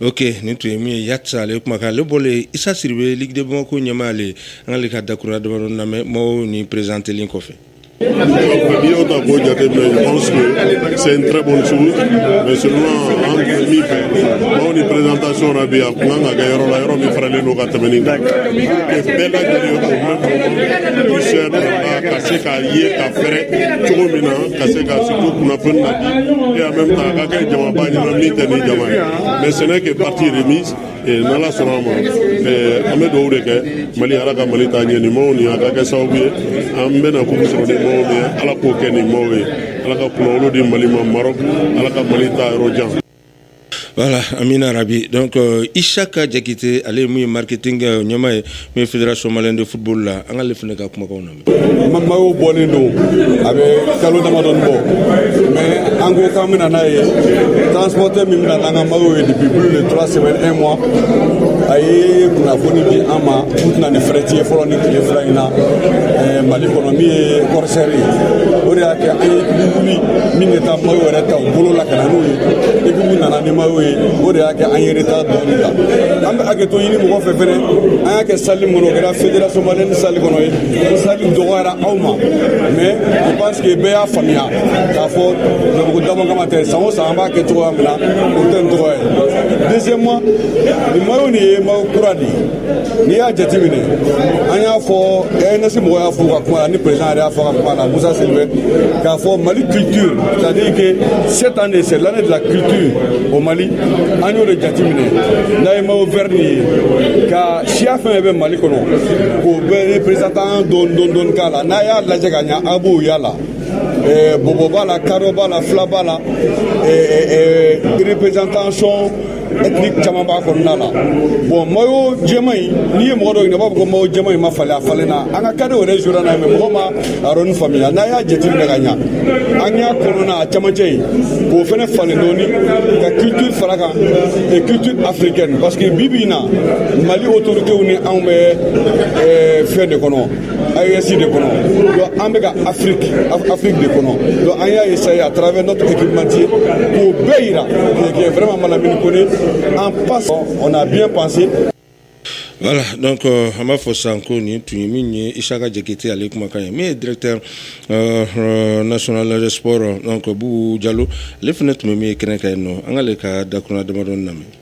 ok nin tun ye min ye yati ale kumakan ale bɔlen isa sidibe ligue de bamakɔ ɲɛmaa ale an k'ale ka dakurunɲɛ damadɔni lamɛn mayo nin perezantelen kɔfɛ N'i y'o ta k'o jateminɛ je pense que c'est une très bonne chose mais seulement an tun bɛ min fɛ mayo nin présentation na bi a tun kan ka kɛ yɔrɔ la yɔrɔ min fɛrɛlen don ka tɛmɛ nin kan que bɛɛ lajɛlen au même moment puisse être là ka se k'a ye ka fɛrɛ cogo min na ka se ka surtout kunnafoni na et en même temps a ka kɛ jamaba ɲɛna min tɛ nin jama ye mais ce n'est que partie remise n'ala sɔnna a ma an bɛ dugawu de kɛ mali ala ka mali taa ɲɛ nin mayo nin a ka kɛ sababu ye an bɛna kupu sɔrɔ ni mayo min ye ala k'o kɛ nin mayo ye ala ka kunnawolo di mali ma marɔku ala ka mali taa yɔrɔ jan Wala an bɛ arabi dɔn isa ka jakite ale ye mun ye marikete kɛ ɲamama ye n fira soma de futbolo la an kaale fana ka kumakan na mamaw bɔlen don a bɛ kalo damadɔ bɔ mɛ an ko an bɛna n'a ye taaso tɛ min bɛna an ka ye bibulu de tora sɛbɛn e ma a ye kunnafoni di an ma u tɛna ni fɛrɛɛrɛti fɔlɔ ni tile fila in na mali kɔnɔ min ye kɔɔrisɛri o de y'a kɛ an ye min bɛ taa mayo yɛrɛ ta u bolo la ka na n'o ye et puis min nana ni mayo ye o de y'a kɛ an ye retard dɔɔni ta an bɛ hakɛto ɲini mɔgɔ fɛ fɛnɛ an y'a kɛ sali min kɔnɔ o kɛra federation malienne sali kɔnɔ ye sali dɔgɔyara aw ma mais je pense que bɛɛ y'a faamuya k'a fɔ jabugu dama kama tɛ san o san an b'a kɛ cogoya min na o tɛ nin cogoya ye deuxièmement nin mayo nin ye mayo kura de ye n'i y'a jateminɛ an y'a fɔ Airness mɔgɔ y'a fɔ ka kuma la ni président yɛrɛ y'a fɔ ka kuma la musa Sylvain k'a fɔ mali culture c'est à dire que cette année c'est l'année de la culture au mali an y'o de jateminɛ n'a ye mayo vert nin ye ka siya fɛn fɛn bɛ mali kɔnɔ k'o bɛɛ représenter dɔɔni dɔɔni dɔɔni k'a la n'a y'a lajɛ ka ɲa a b'o y'a la bɔbɔ b'a la kadɔ b'a la fila b'a la représentation ethnique caman b'a kɔnɔna la bɔn mayo jɛman in n'i ye mɔgɔ dɔ ɲininka a b'a fɔ ko mayo jɛman in ma falen a falenna an ka cadetw yɛrɛ jouera n'a ye mais mɔgɔ ma a yɔrɔnin faamuya n'a y'a jateminɛ ka ɲa an y'a kɔnɔna a cɛmancɛ in k'o fɛnɛ falen dɔɔni ka culture fara a kan et culture africaine parce que bi bi in na mali autoritéw ni anw bɛ fɛn de kɔnɔ AES de kɔnɔ donc an bɛ ka Afrique Afrique de kɔnɔ donc an y'a essayer à travers notre équipementier k'o bɛɛ yira qui est vraiment Malamine Kone en passe on a bien pensé Voilà, donc euh, an b'a fɔ sisan ko nin tun ye min ye Isaka Jakite ale kumakan ye min ye directeur euh, euh, national de sport donc Bubu Jalo ale fana tun bɛ min ye kɛnɛ kan yen nɔ an k'ale ka dakurunɲɛ damadɔni lamɛn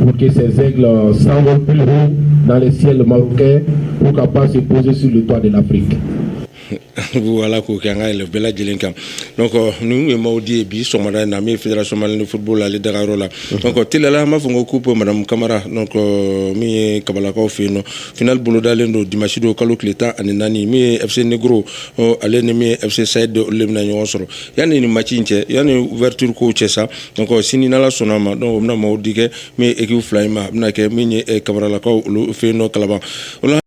pour que ces aigles s'envolent plus haut dans les ciels marocains pour capables de se poser sur le toit de l'Afrique. voilà k'o kɛ an ka yɛlɛ bɛɛ lajɛlen kan donc euh, ninnu ye maillot di ye bi sɔgɔmada in na min ye fédération malienne de football ale dagayɔrɔ la mhm. donc euh, teliyala an b'a fɔ ko coupe madame kamara donc euh, min ye kabalakaw fɛ yen nɔ finale bolodalen don dimanche don kalo tile tan ani naani min ye fc negro ale ni min ye fc sayid olu de bɛna ɲɔgɔn sɔrɔ yanni ni match in cɛ yanni ouverture kow cɛ sa Donc sini n'ala sɔnna a ma donc u bɛna maillot di kɛ min ye équipe fila in ma a bɛna kɛ min ye kabalakaw olu fɛ yen nɔ kalaban